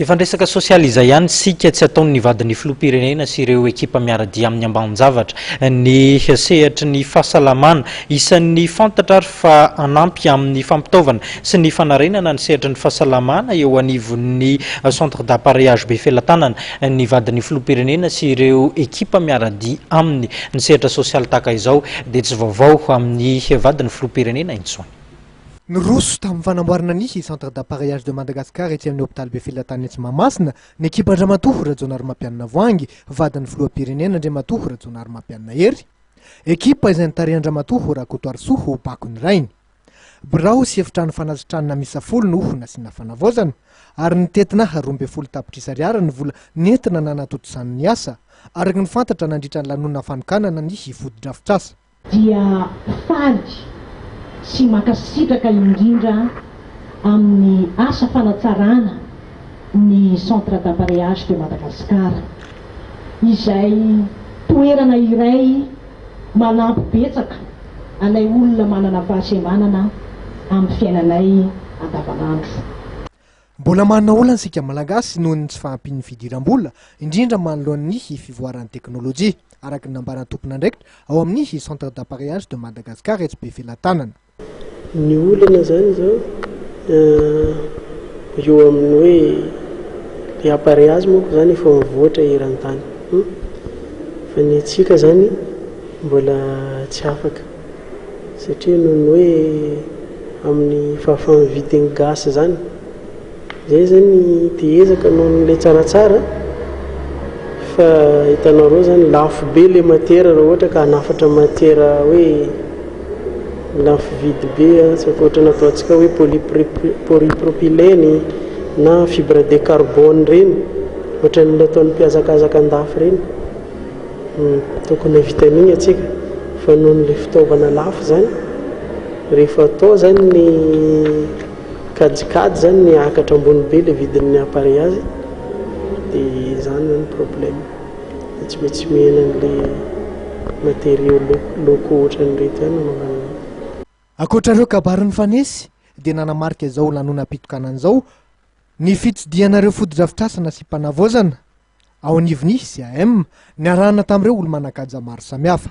Efa niresaka sosialy izay ihany isika, tsy ataon'ny vadin'ny filoham-pirenena sy ireo ekipa miara-dia aminy ambanin-javatra ny sehatry ny fahasalamana. Isan'ny fantatra ary fa hanampy amin'ny fampitaovana sy ny fanarenana ny sehatry ny fahasalamana eo anivon'ny Centre d'appareillage Befelatanana ny vadin'ny filoham-pirenena sy ireo ekipa miara-dia aminy. Ny sehatra sosialy tahaka izao dia tsy vaovao amin'ny vadin'ny filoham-pirenena intsony. Niroso tamin'ny fanamboarana ny Centre d'appareillage de Madagascar etsy amin'ny Hopitaly Befilatany etsy Mahamasina ny ekipan-dRamatoa Rajaonarimampianina Voahangy, vadin'ny Filoham-pirenena Andriamatoa Rajaonarimampianina Hery. Ekipa izay notarihan-dRamatoa Rakotoarisoa ho bako ny rainy. Birao sy efitrano fanasitranana miisa folo no nasiana fanavaozana ary nitentina roa ambin'ny folo tapitrisa ariary ny vola nentina nanatontosana ny asa, araka ny fantatra nandritra ny lanonana fanokanana ny fotodrafitrasa. dia faly sy mankasitraka indrindra amin'ny asa fanatsarana ny Centre d'Appareillage de Madagascar, izay toerana iray manampy betsaka anay olona manana fahasembanana amin'ny fiainanay andavanandro. Mbola manana olana isika Malagasy noho ny tsy fahampian'ny fidiram-bola, indrindra manoloana ny fivoaran'ny teknolojia, araka ny nambaran'ny tompon'andraikitra ao amin'ny Centre d'appareillage de Madagascar etsy Befelatanana. Ny olana izany izao eo amin'ny hoe ilay appareillage manko izany efa mivoatra eran-tany fa ny antsika izany mbola tsy afaka. Satria noho ny hoe amin'ny fahafahan'ny vitiny gasy izany. Izay izany dia ezaka noho ny ilay tsaratsara fa hitanareo izany lafo be ilay matiera raha ohatra ka hanafatra matiera hoe lafo vidy be tsy ankoatra ny ataontsika hoe polypropylène na fibre de carbone ireny ohatran'ny ilay ataon'ny mpihazakazaka an-dafy ireny. Tokony hahavita an'iny atsika fa noho ny le fitaovana lafo zany rehefa atao zany ny kajikajy zany miakatra ambony be le vidin'ny appareil azy de zany zany problème de tsy maintsy mihena an'le matériaux loko ohatran'ireto zany anaovana an'iny. Ankoatra ireo kabary nifanesy dia nanamarika izao lanonam-pitokanana izao ny fitsidihana ireo fotodrafitrasa nasiam-panavaozana Ao anivon'ny CAM, niarahana tamin'ireo olo-manan-kaja maro samihafa.